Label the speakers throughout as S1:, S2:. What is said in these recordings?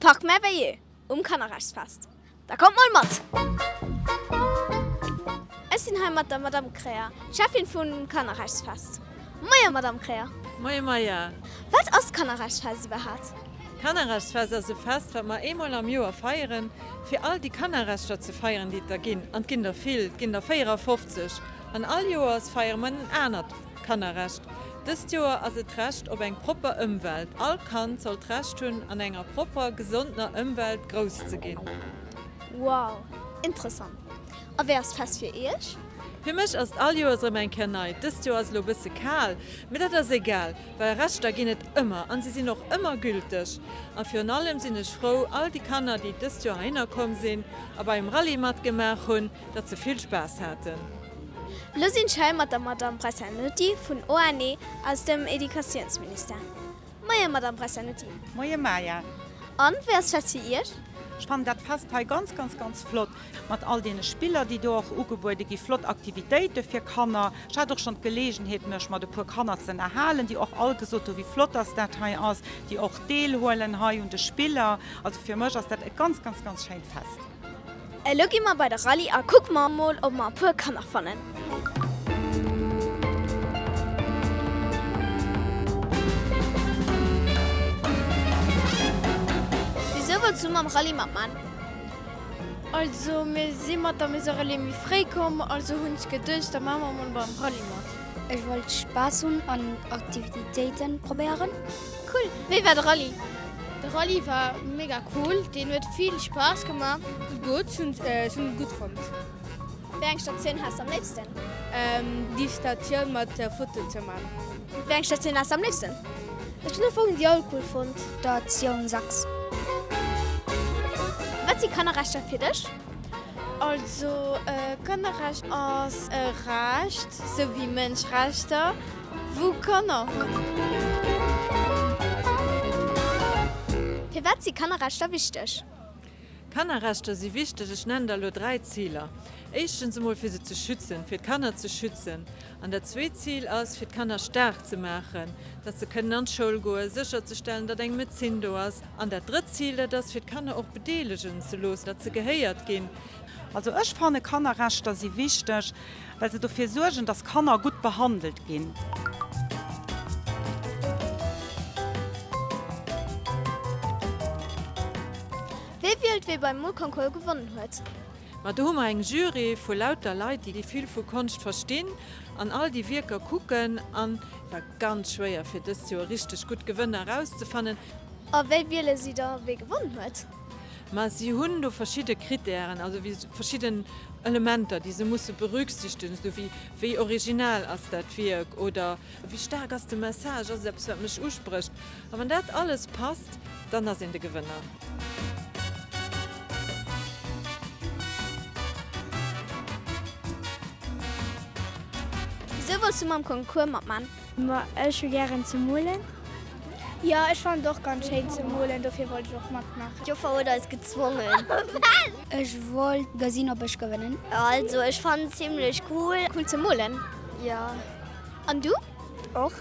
S1: Parc Merveilleux um Kannerrechtsfest. Da kommt mol mat! Ech sinn hei mat der Madamm Kreher, Cheffin vum Kannerrechtsfest. Moie Madamm Kreher! Moie moie!
S2: Wat ass
S1: d'Kannerrechtsfest iwwerhaapt? D'Kannerrechtsfest
S2: ass e Fest, wat mer eemol am Joer feieren, fir all déi Kannerrechter ze feieren, déi et der ginn. An et ginn der vill, et ginn der 54. An all Joers feiere mer en anert. Kannerrecht Dëst Joer ass et d'Recht op eng propper Ëmwelt. All Kand soll d'Recht hunn, an enger propper, gesondener Ëmwelt grouss ze ginn. Wow,
S1: interessant. A wéi ass d'Fest fir Iech? Fir mech ass et
S2: all Joers erëm eng Kéier nei. Dëst Joer ass elo e bësse kal, mee dat ass egal, well Rechter ginn et ëmmer an si sinn och ëmmer gülteg. A virun allem sinn ech frou, all déi Kanner, déi dëst Joer heihinner komm sinn a bei um Rallye matgemaach hunn, datt se vill Spaass haten. Lo sin
S1: ech hei mat der Madame Bressanuti vun ONE aus dem Educatiounsministère. Moien Madame Bressanuti. Moien Maja.
S3: An wéi ass
S1: d'Fest fir Iech? Ech fannen dat Fest
S3: hei ganz ganz ganz flott mat all deene Spiller déi do och ugebuede gi, flott Aktivitéite fir Kanner. Ech hat och schon d'Geleegenheet mech mat e puer Kanner ze ënnerhalen, déi och all gesot hu wéi flott dass dat hei ass, déi och deelhuelen hei un de Spiller. Also fir mech ass dat e ganz ganz ganz schéint Fest. Elo gi
S1: mer bei de Rallye a kucke mer emol ob mer e puer Kanner fannen. Wisou wollts du mam Rallye matman?
S4: Also mir si mat der Maison Relais méi fréi komm, also hunn ech geduecht da maache mer emol beim Rallye mat. Ech wollt Spaass
S5: hunn an Aktivitéiten probéieren. Cool, wéi
S1: war de Rallye? De Rallye
S4: war mega cool, deen huet vill Spaass gemaach. Gutt, ech hunn et gutt fonnt. Wéi eng
S1: Statioun has de am léifsten? Déi
S4: Statioun mat der Foto ze man. Wéi eng Statioun
S1: has de am léifsten? Ech hunn ufanks
S5: déi all cool fonnt. Statioun 6.
S1: Wat si Kannerrechter fir dech? Also
S4: Kannerrecht ass e Recht, sou wéi Mënschrechter. wou Kanner hunn.
S1: Firwat si Kannerrechter wichteg? Kannerrechter
S2: si wichteg. Ech nennen der elo dräi Ziler. Éischtens emol fir se ze schützen, fir d'Kanner ze schützen. An dat zweet Zil ass fir d'Kanner staark ze maachen, datt se kënnen an d'Schoul goen, sécherzestellen, datt eng Médecin do ass. An dat drëtt Zil, dat ass fir d'Kanner och bedeelegen ze loossen, datt se gehéiert ginn. Also ech fanne
S3: Kannerrechter si wichteg. well se dofir suergen, dass Kanner gutt behandelt ginn.
S1: Wie wielt wee beim Molconcours gewonnen huet? Ma do hu mer eng
S2: Jury vu lauter Leit, déi vill vu Konscht verstinn an all déi Wierker kucken. An et war ganz schwéier, fir dëst Joer richteg gutt Gewënner erauszefannen. A wéi
S1: wiele si da, wee gewonnen huet? Mä si hunn
S2: do verschidde Krittären, also wéi verschidden Elementer, déi se musse berücksichtegen, esou wéi, wéi original ass dat Wierk oder wéi staark ass de Message, ass et eppes, wat mech usprécht? A wann dat alles passt, dann ass een de Gewënner.
S1: Esou wollts du mam Concours matman? Ma ech hu
S5: gären ze molen. Jo
S4: ech fannen et och ganz schéin ze molen, dofir wollt ech och matmaachen. D'Joffer huet eis
S6: gezwongen. Ech
S5: wollt gesinn op ech gewënnen. Also ech fannen et
S6: zimlech cool. Cool ze molen
S1: jo.
S6: An du?
S1: Och.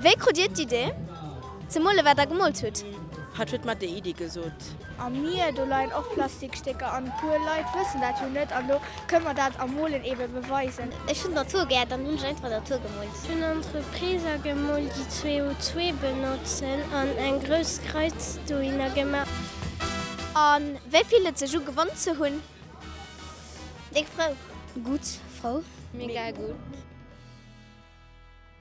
S6: Wéi krut dir
S1: d'Idee ze molen wat der gemolt hutt? Hatt huet mer déi
S7: Idee gesot. Welt. Am Mier, do
S4: leien och Plastikstécker an e puer Leit wëssen dat jo net an do kënne mer dat am Molen eebe beweisen. Ech hunn d'Natur gär,
S6: dann hunn ech einfach d'Natur gemoolt. Ech hunn Entrepriser
S8: gemoolt déi CO2 benotzen an eng grouss Kreiz dohinner gemaach. A
S1: wéi fillt et sech u gewonn ze hunn?
S6: Déck frou. Gutt
S5: frou. Mega gutt.